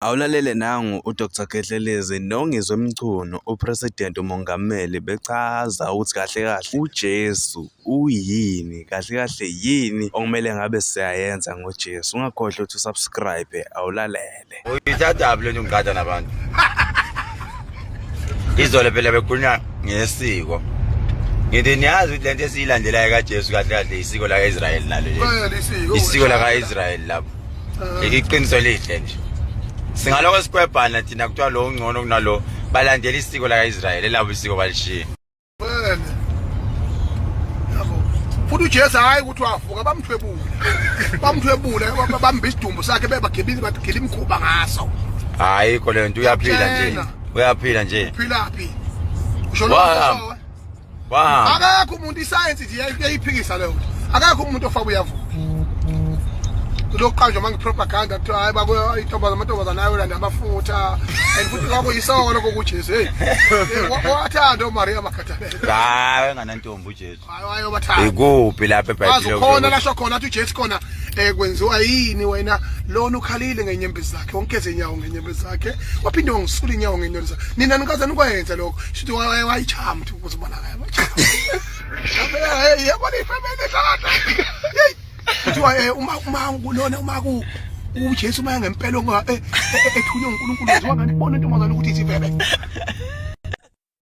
Awulalele nangu uDr Khehlelezi noNgizwe Mchunu uPresident uMongameli bechaza ukuthi kahle kahle uJesu uyini kahle kahle yini okumele ngabe siyayenza ngoJesu ungakhohlwa ukuthi usubscribe awulalele uyithathaphi lento ngiqatha nabantu izolo phela bekhulunywa ngesiko ngithi niyazi ukuthi lento esiyilandelayo kaJesu kahle kahle isiko laka-Israyeli nalo isiko laka-Israyeli lapho iqiniso lihle nje singaloko sikwebhana thina kuthiwa lo ungcono kunalo balandela isiko laka-israyeli elabo isiko balishiya futhi ujesu hhayi ukuthi wavuka bamthwebule bamthwebule bambhe isidumbu sakhe bebagebile bagele imkhuba ngaso hhayi kho leyo nto uyaphila nje uyaphila nje uphilaphi usho Wow. Akakho umuntu isayensi nje yayiphikisa leyo. Akakho umuntu ofaba uyavuka. Kuloqanjwa manje propaganda kuthiwa hayi bako intombazana amantombazana ayolanda amafutha. And futhi kwabo yisoko lokho kuJesu. Hey. Eh, wathanda uMaria makhathalele. Hayi enganantombi uJesu. Hayi wayobathanda. Ikuphi lapha eBhayibhelini? Khona lasho khona uthi uJesu khona eh kwenziwa yini wena lona ukhalile ngenyembezi zakhe wonke ezinyawo ngenyembezi zakhe waphinde wangisula inyawo ngenelisa nina nikaze nikwayenza lokho shithi wayichaya mthi ukuze ubonakala yabona ifamele hlala kuthiwa eh, uma uma kulona uma ku uJesu uma ngempela ethunywe uNkulunkulu waziwa kanti bona intombazana ukuthi isivebe